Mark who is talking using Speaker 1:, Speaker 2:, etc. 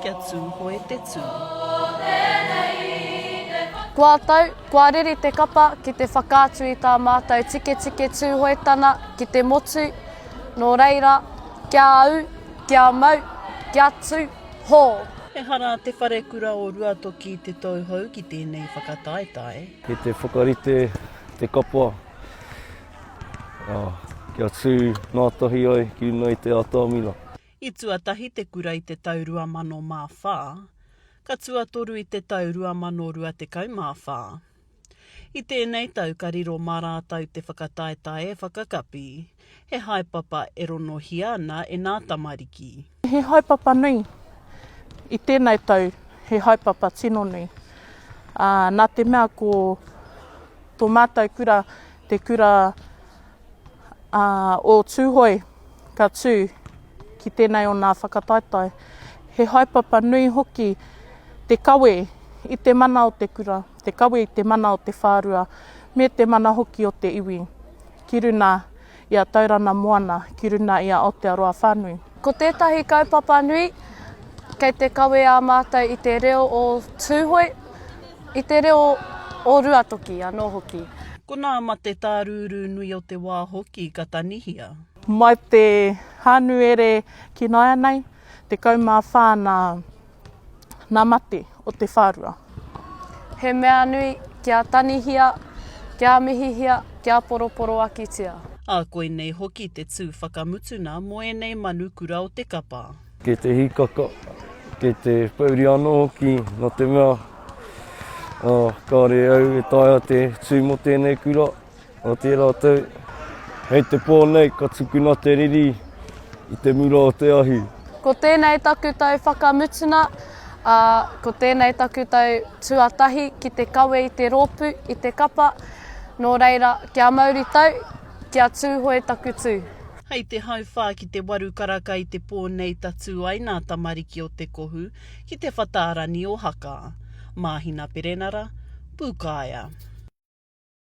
Speaker 1: Kia Tūhoe te Tū.
Speaker 2: Kua tau, kua riri te kapa ki te whakaatu i tā mātou tiketike Tūhoetana ki te motu, nō reira, kia au, kia mau, kia tū hō! Ehara
Speaker 1: te Wharekura o Ruatoki i te tauhou ki tēnei whakataetae. Kei te whakarite
Speaker 3: te kapa kia tū ngātahi ai ki runga i te ātamina. I tuatahi
Speaker 1: te kura i te tau 2004, ka tuatoru i te tau 2024. I tēnei tau ka riro mā rātou te whakataetae e whakakapi, he haepapa e ronohia ana e nā tamariki. He haepapa
Speaker 4: nui. I tēnei tau, he haepapa tino nui. Ā, nā te mea ko tō mātou kura te kura Ā, o Tūhoe ka tū ki tēnei o nā whakataetae, he haepapa nui hoki te kawe i te mana o te kura, te kawe i te mana o te whārua, me te mana hoki o te iwi, ki runa i a Taurana Moana, ki runa i a Aotearoa whānui. Ko tētahi
Speaker 2: kaupapa nui, kei te kawe ā mātou i te reo o Tūhoe, i te reo o Ruatoki anō hoki. Ko nā mate
Speaker 1: tā rūrū nui o te wā hoki ka tanihia. Mai te
Speaker 4: Hānuere ki nāianei, 14 nā na mate o te wharua. He
Speaker 2: mea nui kia tanihia, kia mihihia, kia poroporoakitia. A koinei
Speaker 1: hoki te tu whakamutuna mo enei manu kura o te kapa. Kei te hikaka,
Speaker 3: kei te pouri ano hoki no te mea, a, kare au e taea te tu mo tenei kura. Otiia ratou, Hei te po nei ka tukuna te riri i te mura o te ahi. Ko tenei
Speaker 2: taku tau whakamutuna, a, ko tenei taku tau tuatahi ki te kawe i te ropu, i te kapa, no reira, kia mauri tau, kia Tuhoe taku tu. Hei te hauwha
Speaker 1: ki te waru karaka i te po nei tatu ai na tamariki o Te Kohu ki te whataarani o Haka. Mahina Perenara, Pukaea.